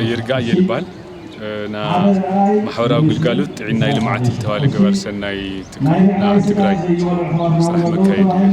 ይርጋእ የልባል ና ማሕበራዊ ግልጋሎት ጥዕና ልምዓት ዝተባለ ገበር ሰናይ ትካል ና ትግራይ ስራሕ መካየድ እዩ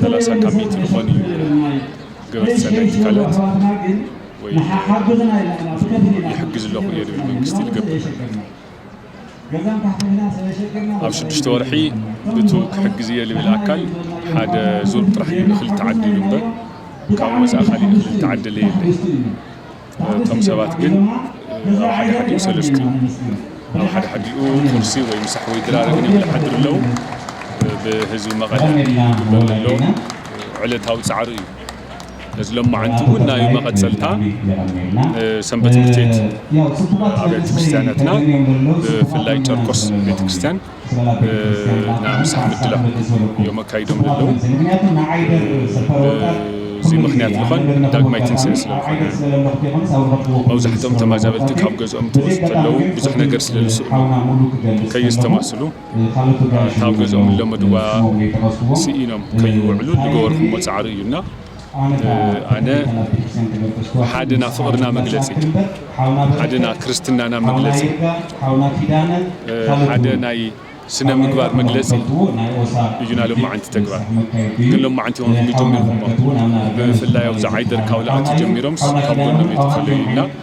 ሰላሳ ካብ ሚእቲ ዝኾን እዩ ገበቲ ሰናይ ትካላት ወይ ይሕግዝ ኣለኹ እየ ዝብል መንግስቲ ዝገብር ኣብ ሽዱሽተ ወርሒ ብቱ ክሕግዝ እየ ዝብል ኣካል ሓደ ዙር ጥራሕ እዩ እኽሊ ተዓዲሉ እምበር ካብኡ ወፃኢ ካሊእ እኽሊ ዝተዓደለ የለን እቶም ሰባት ግን ኣብ ሓደ ሓዲኡ ሰለስቲ ኣብ ሓደ ሓዲኡ ቁርሲ ወይ ምሳሕ ወይ ድራር ግን ይብሉ ይሓድሩ ኣለው። ብህዝቢ መቐለ ዝግበር ዘሎ ዕለታዊ ፃዕሪ እዩ። ነዚ ሎማዕንቲ እውን ናይ መቐፀልታ ንሰንበት ትምህርት ቤት ኣብያተ ክርስትያናትና ብፍላይ ጨርቆስ ቤተ ክርስትያን ብናምሳሕ ምድላው እዮም ኣካይዶም ለለዉ። እዚ ምኽንያት ልኾን ዳግማይ ትንስኤ ስለ ልኾነ መብዛሕትኦም ተማዛበልቲ ካብ ገዝኦም እንትወጹ ተለዉ ብዙሕ ነገር ስለ ልስእኑ ከየስተማስሉ እታ ኣብ ገዝኦም ልለመድዋ ስኢኖም ከይወዕሉ ልገበርኩሞ ጻዕሪ እዩ እና ኣነ ሓደና ፍቕርና መግለጺ ሓደና ክርስትናና መግለጺ ሓደ ናይ ስነ ምግባር መግለጺ እዩና ሎማዓንቲ ተግባር ግን ሎማዓንቲ ውን ክምቶም ኔርኩሞ ብምፍላይ ኣብዚ ዓይደር ካብ ልኣቱ ጀሚሮምስ ካብ ጎኖም እየ ተፈለዩ እና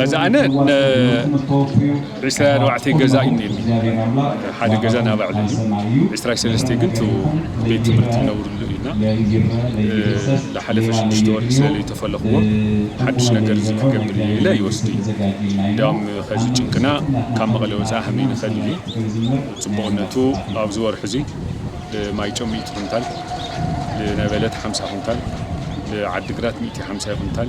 ሕዚ ኣነ ን ዕስራይ ኣርባዕተይ ገዛ እዩ ነይርኒ ሓደ ገዛ ናይ ባዕሉ እዩ ዕስራይ ሰለስተይ ግን እቲ ቤት ትምህርቲ ይነብርሉ እዩ እና ልሓለፈ ሽዱሽተ ወርሒ ስለ ለይተፈለኽዎ ሓዱሽ ነገር እዚ ክገብር እየ ኢለ ይወስድ እዩ እንድያውም ኸዚ ጭንቅና ካብ መቐለ ወፃኢ ሃመይ ንኸድ ኢሊ ፅቡቕነቱ ኣብዚ ወርሒ እዙይ ልማይጨው ሚእቲ ኩንታል ልነበለት ሓምሳ ኩንታል ልዓዲ ግራት ሚእቲ ሓምሳይ ኩንታል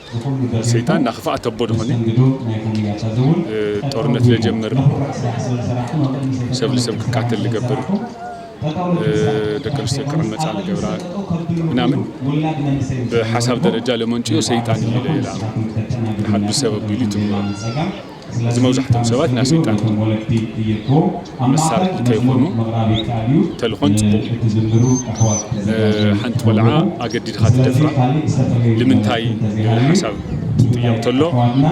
ሰይጣን ናክፋኣት ኣቦ ድኮነ ጦርነት ለጀምር ሰብ ልሰብ ክቃተል ልገብር ደቂ ኣንስትዮ ክዕመፃ ልገብራ ምናምን ብሓሳብ ደረጃ ለመንጭዮ ሰይጣን እዩ ኢለ እየ ልኣምን ሓዱሽ ሰብ ኣቢሉ ይትምኖ እዚ መብዛሕቶም ሰባት ናይ ሰይጣን መሳርሒ ከይኾኑ ተልኾን ፅቡቕ እዩ። ሓንቲ ቆልዓ ኣገዲድኻ ትደፍራ ልምንታይ ሓሳብ ትጥየቕ ተሎ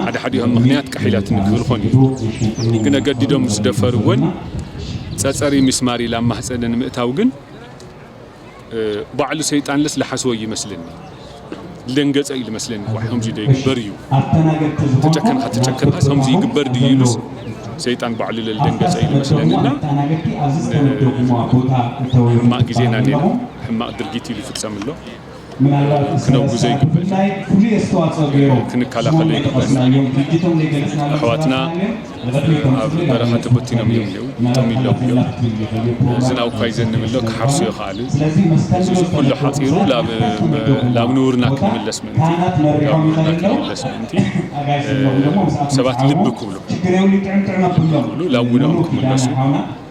ሓደ ሓዲኦም ምኽንያት ቀሒላትኒ ክብልኾን እዮም ግን ኣገዲዶም ምስ ደፈርወን ፀፀሪ ሚስማር ኢላ ኣብ ማህፀነን ምእታው ግን ባዕሉ ሰይጣንለስ ልሓስወ እዩ መስለኒ ልደንገጸ እዩ ልመስለኒ ኳሕ ከምዚ ዶ ይግበር እዩ ተጨከንካ ተጨከንካስ ከምዚ ይግበር ድዩ ኢሉስ ሰይጣን ባዕሉ ለልደንገጸ እዩ ልመስለኒ እና ሕማቅ ግዜና ኔና ሕማቅ ድርጊት እዩ ልፍጸም እሎ ክነውግዞ ይግበእ። ክንከላኸሎ ይግበእ። ኣሕዋትና ኣብ በረኻ ተበቲኖም እዮም እኔዉ፣ ጠሚሎም እዮም። ዝናብ እኳ ይዘንብ ኣሎ፣ ክሓርሱ ኣይኸኣሉን። እዚ እዚ ኩሉ ሓፂሩ ላብ ላብ ንቡርና ክንምለስ ምእንቲ ላብ ንቡርና ክንምለስ ምእንቲ ሰባት ልቢ ክብሉ ልቢ ክብሉ ላብ ውነኦም ክምለሱ